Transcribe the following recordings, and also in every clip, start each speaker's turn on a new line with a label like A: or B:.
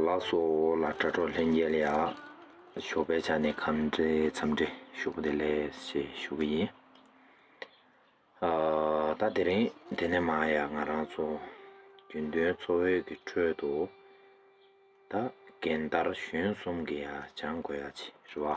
A: ལ་སོ་ལ་དྲ་གྲོགས་ལྷན་རྒྱལ་ཡ་ཞོ་པའི་ཆ་ནས་གམ་འདྲེ་འཚམ་འདྲེ་ཞུ་གི་དེ་ལས་ཞེ་ཞུ་གི་ཡིན་ཨ་ད་དེ་རིང་དེ་ནས་མ་ཡ་ང་རང་ཚོ་རྒྱུན་དོན་འཚོ་བོད་ཀྱི་ཁྲོད་དུ་ད་རྒན་དར་གཞོན་གསུམ་གྱི་ཡ་སྦྱང་དགོས་ཡ་ཆེ་རེད་བ།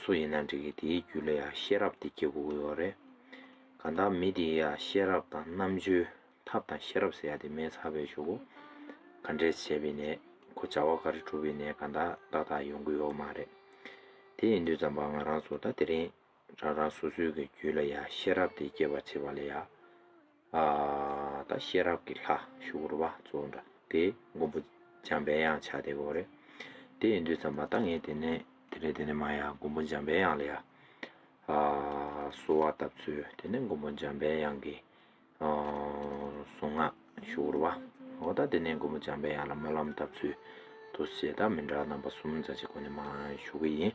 A: སུ་ཡིན་ན་འགྲིག་གི་དེའི་རྒྱུད་ལ་ཡང་ཤེས་རབ་དེ་སྐྱེ་དགོས་ཀྱི་ཡོད་རེད། གང་ལྟར་མི་དེའི་ཡང་ཤེས་རབ་དང་རྣམ་དཔྱོད་ཐབས་དང་ཤེས་རབ་ཟེར་ཡ་དེ་མེད་ཚར་བས་ཆོག་གོ། ག་འདྲས་བྱས་པའི་ནད་ཁོ་བྱ་བ་ག་རེ་གྲུབ་པའི་ནད་གང་དག་ཏག་ཏག་ཡོང་གི་ཡོད་མ་རེད། དེ་ཡིན་དུས་ཙམ་པ་ང་རང་ཚོ་ད་དེ་རིང་རང་རང་སོ་སོའི་གི་རྒྱུད་ལ་ཡང་ཤེས་རབ་དེ་སྐྱེ་བར་བྱེད་པ་ལས་ཡང། ད་ཤེས་རབ་ཀྱི་ལྷ་ཞུ་བར་བ་གཙོ་འདྲ་དེ་མགོན་པོ་འཇམ་པའི་དབྱངས་བྱ་དེ་གོ་རེ། དེ་ཡིན་དུས་ཙམ་མ་ད་ངས་དེ་ནས་དེ་ལས་དེ་ནས་མ་ཡ་མགོན་པོ་འཇམ་པའི་དབྱངས་ལ་ཡ། གསོལ་བ་བཏབ་ཚུལ་དེ་ནས་མགོན་པོ་འཇམ་པའི་དབྱངས་ཀྱི་གསུང་ངག་ཞུ་བར་བ་འོ་ད་དེ་ནས་མགོན་པོ་འཇམ་པའི་དབྱངས་ལ་སྨོན་ལམ་བཏབ་ཚུལ་དུ་བྱས་ད་མི་འདྲ་རྣམ་པ་གསུམ་རྩ་ཆེ་ཁོ་ནས་མ་ཞུ་གི་ཡིན།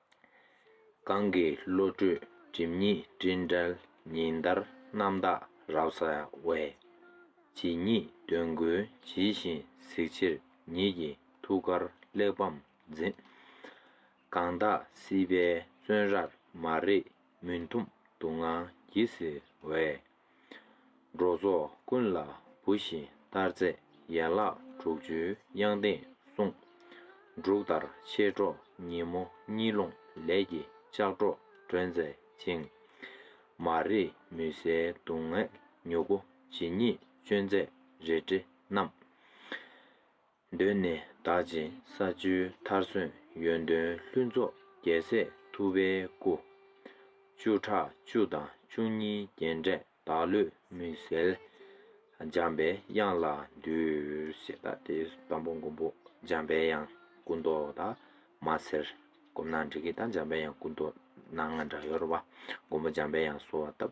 A: གང་གི་བློ་གྲོས་སྒྲིབ་གཉིས་སྤྲིན་བྲལ་ཉི་ཟླར་རྣམ་དག་རབ་གསལ་བས། ཇི་སྙེད་འདོད་དགུའི་ཇི་བཞིན་གཟིགས་ཕྱིར་ཉིད་ཀྱི་ཐུགས་ཀར་གླེགས་བམ་འཛིན། གང་དག་སྲིད་པའི་བཙོན་རར་མ་རིག་མུན་འཐོམས་སྡུག་བསྔལ་གྱིས་གཟིར་བས། འགྲོ་ཚོགས་ཀུན་ལ་བུ་བཞིན་ལྟར་མཛད་ཡན་ལག་དྲུག་ཅུའི་དབྱངས་ལྡན་གསུང། འབྲུག་ལྟར་མཆེད་གྲོགས་ཉིན་མོ་གཉིད་སློང་ལས་ཀྱི་ལྕགས་སྒྲོག་སྒྲོན་མཛད་ཅིང། མ་རིག་མུན་སེལ་སྡུག་བསྔལ་མྱུ་གུ་ཇི་སྙེད་སྤྱོད་མཛད་རལ་གྲི་བསྣམས། གདོད་ནས་བདག་ཅེས་ས་བཅུའི་མཐར་སོན་ཡོན་ཏན་ལྷུན་རྫོགས་རྒྱལ་སྲས་ཐུབ་པའི་སྐུ། བཅུ་ཕྲག་བཅུ་དང་བཅུ་གཉིས་རྒྱན་སྤྲས་བདག་བློས་མི་གསལ། འཇམ་པའི་དབྱངས་ལ་འདུད་ཞེས་དང་དེའི་དང་པོ་མགོན་པོ་འཇམ་པའི་དབྱངས་སྐུ་མདོག་དག་མ་ཟེར། བསྒོམས་ན་འགྲིག་གི་དང་འཇམ་པའི་དབྱངས་སྐུ་མདོག་སྣ་ལྔ་འདྲ་ཡོད་རེད་བ། མགོན་པོ་འཇམ་པའི་དབྱངས་གསོལ་བ་བཏབ།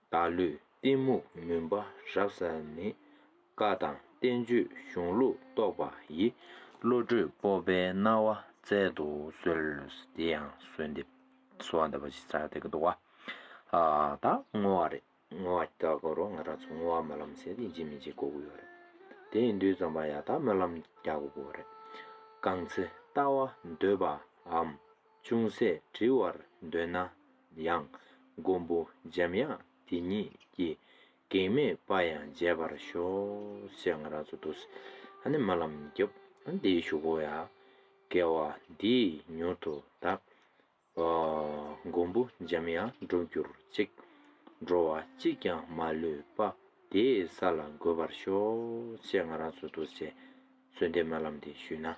A: བདག་ལུས་གཏི་མུག་མུན་པ་རབ་ཟ་ནི། བཀའ་དང་བསྟན་བཅོས་གཞུང་ལུགས་རྟོགས་པ་ཡི། བློ་གྲོས་སྤོབས་པའི་སྣང་བ་བསྩལ་དུ་གསོལ། དེ་ཡང་གསོལ་འདེབས་གསོལ་བ་འདེབས་པ་ཞེས་བྱ་བ་དེ་ཀ་འདུག་བ། ད་བསྔོ་བ་རེད་བསྔོ་བ་ཀྱི་བསྐོར་རོ་ང་རང་ཚོ་བསྔོ་བ་སྨོན་ལམ་ཟེར་དེ་འཇིགས་མི་འཇིགས་གོ་གི་ཡོད་རེད། དེ་ཡི་འདུས་ཙམ་པ་ཡང་དག་སྨོན་ལམ་རྒྱག་གོ་གི་རེད། གང་ཚེ་ལྟ་བ་འདོད་པའམ། ཅུང་ཟད་བྲི་བར་འདོད་ན་ཡང། མགོན་པོ་འཇམ་དབྱངས་དེ་ཉིད་ཀྱི། གེགས་མེད་དཔའ་ཡང་མཇལ་བར་ཤོག། ཞེས་ང་རང་ཚོ་འདུག་སྲིད། ཨ་ནི་མ་ལམ་རྒྱབ། ཨ་འདིའི་བཞུགས་སྒོ་ཡ། སྐལ་བ་འདིས་མྱུར་དུ་དག། མགོན་པོ་འཇམ་དབྱངས་འགྲུབ་གྱུར་ཅིག། འགྲོ་བ་གཅིག་ཀྱང་མ་ལུས་པ། དེའི་ས་ལ་འགོད་པར་ཤོག། ཅེས་ང་རང་ཚོ་འདུག་སྲིད། གསོལ་འདེབས་མ་ལམ་འདི་ཞུས་ན།